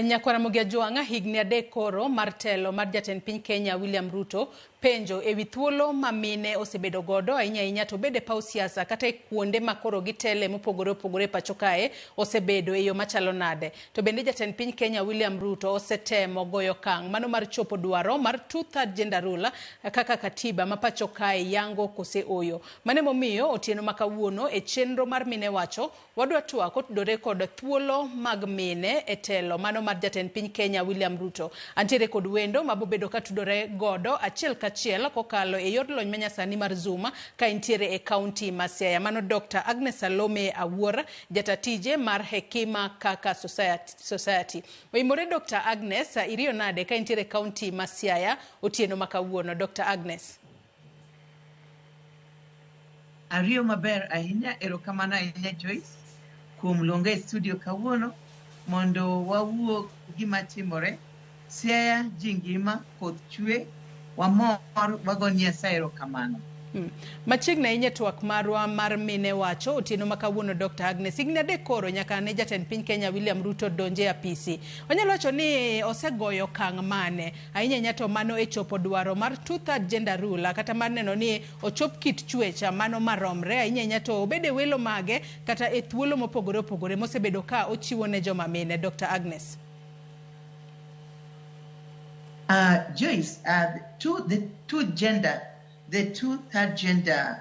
Nyakwara Mugia Jwang'a higni adek koro mar telo mar jatend piny Kenya William Ruto Penjo e wi thuolo ma mine osebedo godo ahinya ahinya to obed e paw siasa kata e kuonde ma koro gitele mopogore opogore e pacho kae osebedo e yo machalo nade? To bende jatend piny Kenya William Ruto osetemo goyo okang' mano mar chopo dwaro mar two third gender rule kaka Katiba ma pacho kae yango kose oyo? Mano emomiyo otieno ma kawuono e chenro mar Mine Wacho Wadwa twak otudore kod thuolo mag mine e telo mano mar jatend piny Kenya William Ruto. Antiere kod wendo mabobedo katudore godo achiel kachiel kokalo e yor lony manyasani mar Zoom ka intiere e kaunti ma Siaya. Mano Dokta Agnes Salome Awuor, jata tije mar Hekima Kaka Society. Oimore Dokta Agnes, iriyo nade ka intiere e kaunti ma Siaya otieno ma kawuono? Dokta Agnes. Ariyo maber ahinya, erokamano ahinya Joyce kuom luonga e studio kawuono mondo wawuo gima timore. Siaya ji ngima, koth chwe, wamor wago Nyasaye erokamano. Hmm. Machiegni ahinya e twak marwa mar mine wacho otieno ma kawuono Dr. Agnes higni adek koro nyaka ne jatend piny Kenya William Ruto donje apisi. Onyalo wacho ni osegoyo kang' mane? Ahinya ahinya to mano e chopo dwaro mar two-third gender rule kata mar neno ni ochop kit chuech mano maromre ahinya ahinya to obed e welo mage kata e thuolo mopogore opogore mosebedo ka ochiwo ne joma mine. Dr. Agnes. Uh, Joyce, uh, the two, the two gender, the two third gender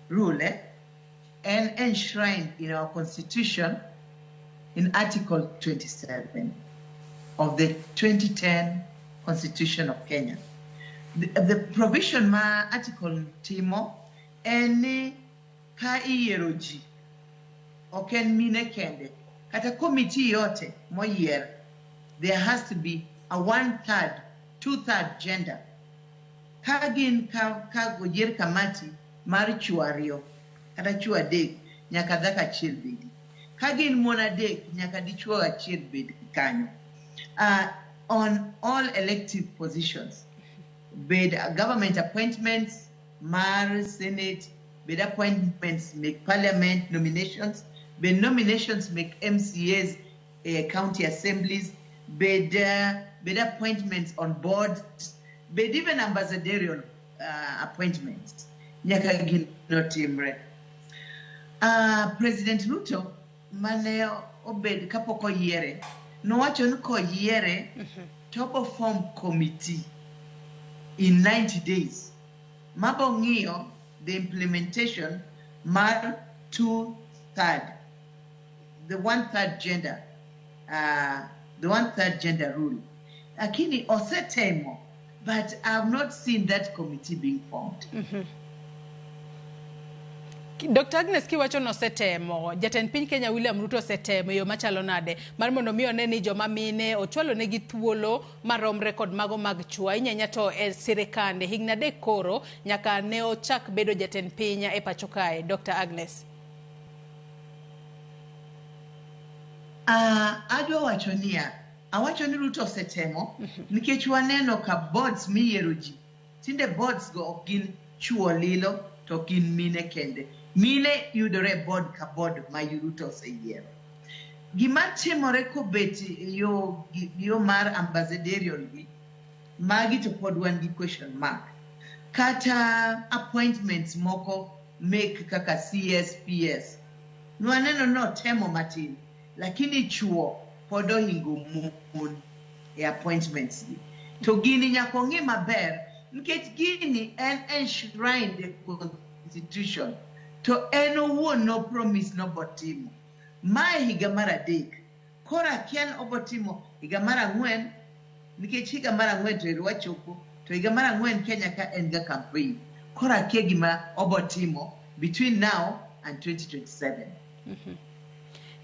rule, eh? and enshrined in our Constitution in Article 27 of the 2010 Constitution of Kenya. The, the provision ma article timo en ni ka iyiero ji ok en mine kende kata komiti yote moyier there has to be a one third two third gender ka gin ka ka oyier kamati mar chwo ariyo kata chwo adek nyaka dhako achiel bedi ka gin mon adek nyaka dichwo achiel bed kanyo uh, on all elective positions bed government appointments mar senate bed appointments make parliament nominations bed nominations make mcas uh, county assemblies, bed, uh, bed appointments on boards, bed even ambassadorial uh, appointments. Nyaka gin notimre. Uh, President Ruto mane obed kapok oyiere nowacho ni koyiere to obo form committee in 90 days mabo ng'iyo the implementation mar two third the one third gender uh, the one third gender rule lakini osetemo but i have not seen that committee being formed mm -hmm. Dr. Agnes kiwacho ni osetemo, jatend piny Kenya William Ruto osetemo e yo machalo nade mar mondo mi one ni joma mine ochwalo negi thuolo maromre kod mago mag chwo ahinya ahinya to e sirikande. Higni adek koro nyaka ne ochak bedo jatend piny e pacho kae. Dr. Agnes. Uh, adwa wacho niya awacho ni ruto osetemo nikech waneno ka boards miyiero ji tinde boards go ok gin chuo lilo to ok gin mine kende mine yudore e board ka board ma ruto oseyiero gima timore kobet e yo gi- yo mar ambassadorial gi magi to pod wan gi question mark kata appointments moko mek kaka CSPS nwaneno ni otemo matin lakini chuo pod ohingo mon e appointments gi to gini nyaka ong'i maber nikech gini en enshrined e constitution to en owuon no promise nobotimo mae higa mar adek Koro akiani obotimo higa mar ang'wen nikech higa mar ang'wen to ero wachopo to higa mar ang'wen Kenya ka en ga campaign. Koro akia gima obotimo between now and 2027.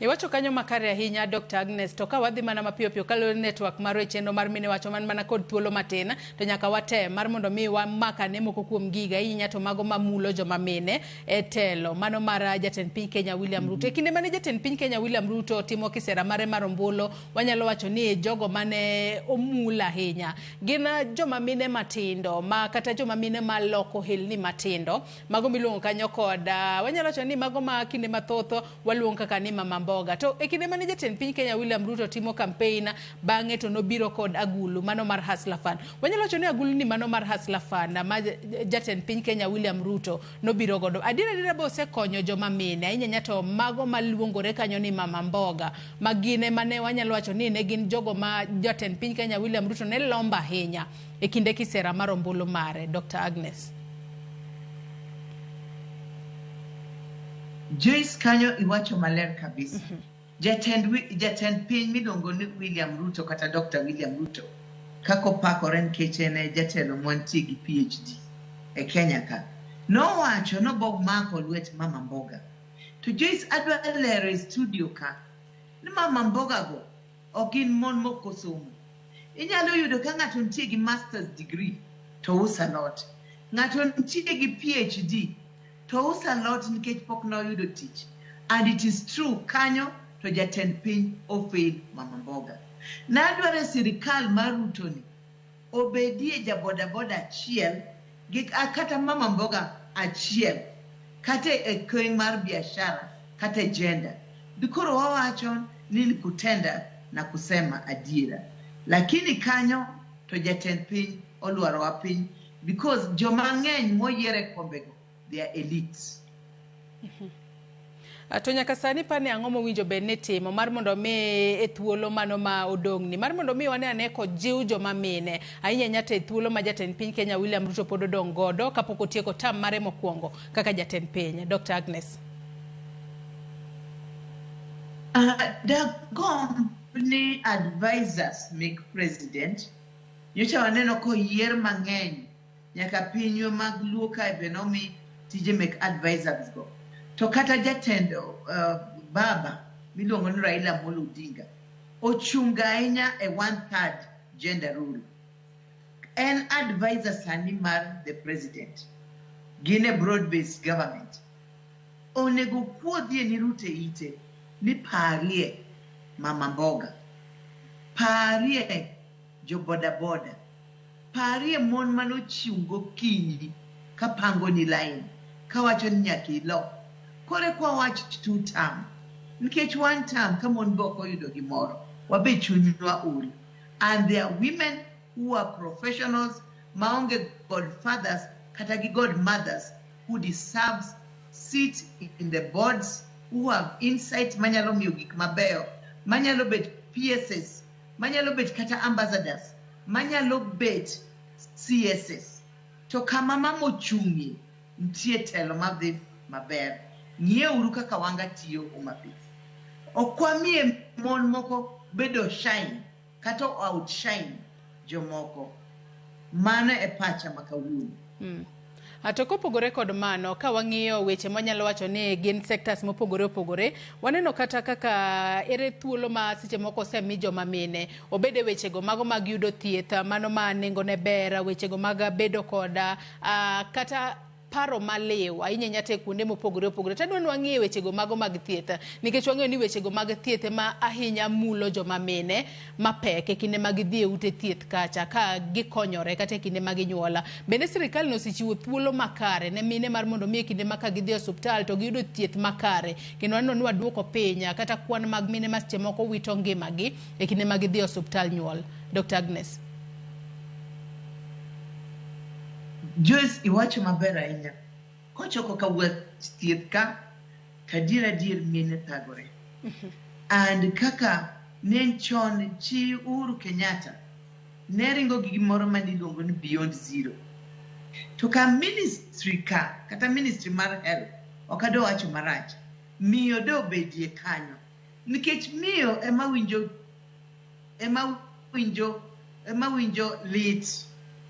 Iwacho kanyo makare ahinya Dr. Agnes to ka wadhi mana mapiyo piyo kaluwore ni network marwa e chenro mar mine wacho man mana kod thuolo matin to nyaka watem mar mondo mi wamak ane moko kuom giga ahinya to mago mamulo joma mine e telo mano mar jatend piny Kenya William Ruto. E kinde mane jatend piny Kenya William Ruto timo kisera mare mar ombulu, wanyalo wacho ni jogo mane omul ahinya gin ah, joma mine matindo ma kata joma mine ma loko helni matindo mago miluongo kanyo kod ah, wanyalo wacho ni mago ma kinde mathoth waluong kaka ni mama mboga to e kinde mane jatend piny kenya william ruto timo kampein bang'e to nobiro kod agulu mano mar hasla fund wanyalo wacho ni agulu ni mano mar hasla fund ma j- jatend piny kenya william ruto nobiro godo adier adiera be osekonyo joma mine ahinya ahinya to mago maluongore kanyo ni mama mboga ma gine mane wanyalo wacho ni ne gin jogo ma jatend piny kenya william ruto ne lombo ahinya e kinde kisera mar ombulu mare. Dr. Agnes. Joyce kanyo iwacho maler kabisa. Mm -hmm. Jatend, jatend piny miluongo ni William Ruto kata Dr. William Ruto kaka opakore nikech en e jatelo mwantie gi PhD e Kenya ka nowacho nobomako lwet Mama Mboga to Joyce adwa lero e studio ka ni Mama Mboga go ok gin mon mok osomo. Inyalo yudo ka ng'ato nitie gi master's degree to uso alot. Ng'ato nitie gi PhD to uso alot nikech pok ne oyudo tich. And it is true kanyo to jatend piny ofail Mama Mboga. Nadwaro e sirikal mar Ruto ni obedie ja bodaboda achiel gi kata mama mboga achiel kata e kony mar biashara kata e jenda bikoro wawacho ni nikutenda na kusema adiera lakini kanyo to jatend piny olwarowa piny because joma ng'eny moyier e kombego they are elites. Mm-hmm. Ah, to nyaka sani pane ang'o mowinjo bed ni timo mar mondo mi e thuolo mano ma odong'ni mar mondo mi wane ane kojiw joma mine ahinya ahinya to e thuolo ma jatend piny kenya william ruto pod odong' godo kapok otieko tam mare mokwongo kaka jatend piny dr agnes uh, ah, dagom ni advisors make president nyocha waneno koyier mang'eny nyaka pinywa mag luo kae be nomi tije mek advisors go to kata jatend uh, baba miluongo ni raila molo odinga ochunga ahinya e one third gender rule en advisor sani mar the president gin e broad based government onego kuodhie ni rute ite ni parie mama mboga parie Jo boda boda, parie mon mane ochung' gokinyi ka pangoni lain kawacho ni nyaka ilo. Koro eka wawach two term nikech one term ka mon be ok oyudo gimoro wabe chunywa ol and there are women who are professionals maonge god fathers kata gi god mothers who deserves sit in the boards who have insight manyalo miyo gik mabeyo manyalo bet PSS manyalo bet kata ambassadors manyalo bet css to kama mama ochung'ie nitie telo madhi maber ng'ieuru kaka wanga tiyo homabay okwamie mon moko bedo shine kata outshine jomoko mano e pacha ma kawuono mm. A To kopogore kod mano, ka wang'iyo weche mwanyalo wacho ni gin sectors mopogore opogore, waneno kata kaka ere thuolo ma seche moko osemi joma mine, obed e wechego mago mag yudo thieth, mano ma nengone ber, wechego mag bedo kod ah, kata paro maliw ahinya ahinya te kuonde mopogore opogore to adwa ni wang'ie wechego mago mag thieth nikech wang'eyo ni wechego mag thieth ema ahinya mulo joma mine mapek e kinde ma gidhi e ute thieth kacha ka gikonyore kata e kinde ma ginyuola. Bende sirkal ne osechiwo thuolo makare ne mine mar mondo mi e kinde ma ka gidhi e osiptal to giyudo thieth makare kendo aneno ni waduoko piny kata kwan mag mine ma seche moko wito ngimagi e kinde ma gidhi e osiptal nyuol. Dr. Agnes. Joyce iwacho maber ahinya. Kochopo ka wuod thieth ka, to adier adier mine thagore. And kaka ne en chon chi Uhuru Kenyatta ne ringo gi gimoro ma niluongo ni Beyond Zero. To ka ministry ka, kata ministry mar health, ok adwa wacho marach, miyo de obedie kanyo. Nikech miyo ema winjo ema winjo ema winjo lit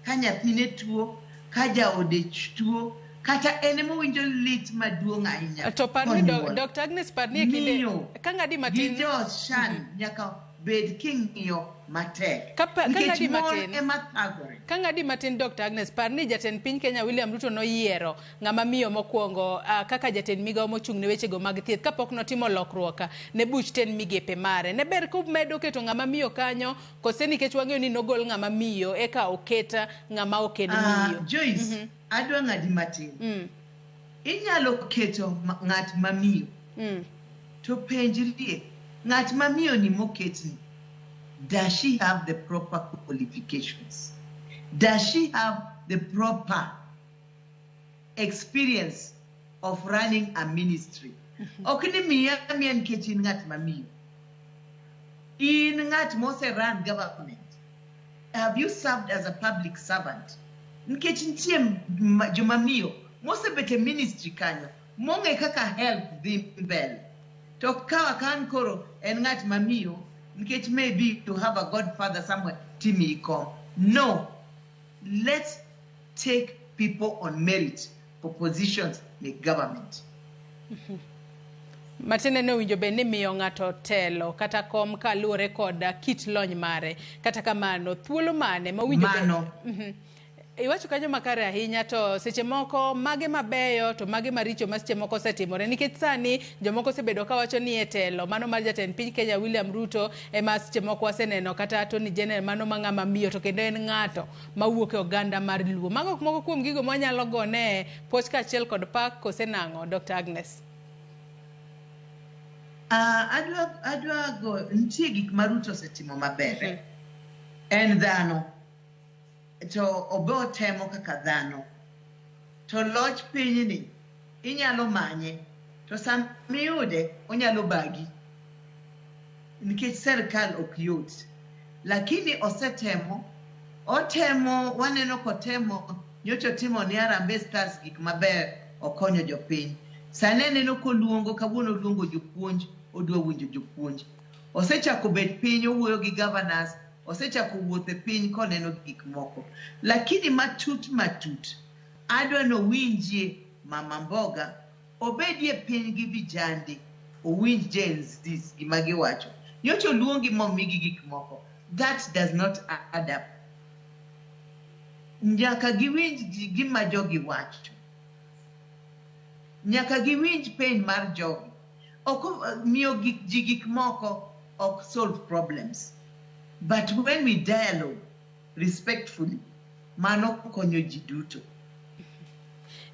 ka nyathine tuo ka jaode ch- tuo kata en ema winjo lit maduong' ahinya To parni do, konyuol. Dr. Agnes parni e kinde Miyo ka ng'adi gi matin jochan nyaka bed king'iyo matek Ka pa- ka nikech ng'adi mon matin. ema thagore ka ng'adi matin Dr. Agnes parni jatend piny Kenya William Ruto noyiero ng'ama miyo mokwongo uh, kaka jatend migawo mochung' ne wechego mag thieth kapok notimo lokruok ne buch ten migepe mare ne ber kumedo keto ng'ama miyo kanyo kose nikech wang'eyo ni nogol ng'ama miyo eka oket ng'ama ok en ah, miyo uh, Joyce, mm -hmm. adwa ng'adi matin mm. inyalo keto ng'at mamiyo mm. to penjrie ng'at mamiyo ni moketni does she have the proper qualifications does she have the proper experience of running a ministry mm-hmm. ok ni miya miya nikech in ng'at mamiyo in ng'at mose run government have you served as a public servant nikech nitie jomamiyo mosebet e ministry kanyo mong'e kaka help dhi mbele to kawa kan koro en ng'at mamiyo nikech maybe to have a godfather somewhere timi kom no let's take people on merit for positions in government. Matinde ne owinjo bed ni miyo ng'ato telo kata kom ka luwore kod kit lony mare. Kata kamano, thuolo mane ma owinjo bed- Mano. Mhm. Iwacho kanyo makare ahinya to seche moko mage mabeyo to mage maricho ma seche moko osetimore nikech sani jomoko osebedo ka wacho ni e telo mano mar jatend piny Kenya William Ruto ema seche moko waseneno kata Attorney General mano ma ng'ama miyo to kendo en ng'ato mawuok e oganda mar Luo. Mago ok moko kuom gigo mwanyalo gone puoch kaachiel kod pak kose nang'o Dr. Agnes? Ah, adwa adwa go nitie gik ma Ruto osetimo maber eh. en dhano to obe otemo kaka dhano to loch pinyni inyalo manye to sama iyude onyalo bagi nikech serikal ok yot lakini osetemo otemo waneno kotemo nyocha otimo ni arambe stars gik maber okonyo jopiny sani aneno koluongo kawuono oluongo jopuonj odwa winjo jopuonj osechako bet piny owuoyo gi governors osechako wuothe piny koneno gik moko lakini matut matut Adwa nowinjie mama mboga obedie piny gi vijande owinj genz gima giwacho nyocha oluongi momigi gik moko that does not add up nyaka giwinj ji- gima jogi wacho nyaka giwinj pain mar jogi ok miyo gik ji gik moko ok solve problems but when we dialogue respectfully mano konyo ji duto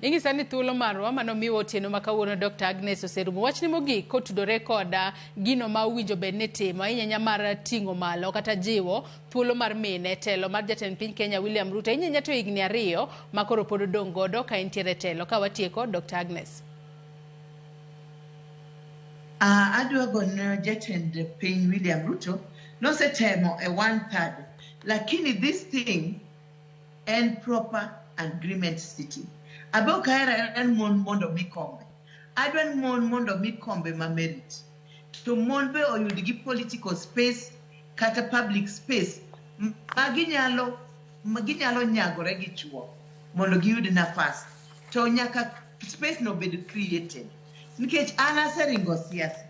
inyisa ni thuolo marwa mano miwa otieno ma kawuono dr agnes oserumo wachne mogik kotudore koda gino ma owinjo bed ni timo inyanya mar ting'o malo kata jiwo thuolo mar mine telo mar jatend piny kenya william ruto inyanya to higni ariyo ma koro pod odong' godo ka entiere telo ka watieko dr agnes uh, adwa gono jatend piny william ruto nosetemo e one third lakini this thing en proper agreement city abe ok ahero ahera ni mon mondo mi kombe adwa ni mon mondo mi kombe ma merit to mon be oyud gi political space kata public space m- ma ginyalo ma ginyalo nyagore gi chuo mondo giyud nafas to nyaka space no bed created nikech an aseringo siasa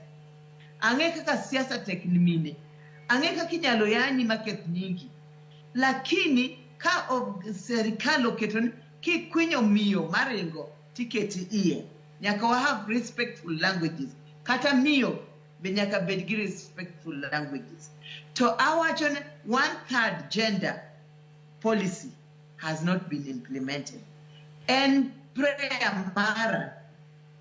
Ang'e kaka siasa tek ni mine. Ang'e kaka inyalo yanyi maketh nyingi. Lakini ka ob, serikal oketo ni kikwinyo miyo maringo tiketi iye. Nyaka wa have respectful languages. Kata miyo be nyaka bed gi respectful languages. To awacho ni one third gender policy has not been implemented. En prayer mara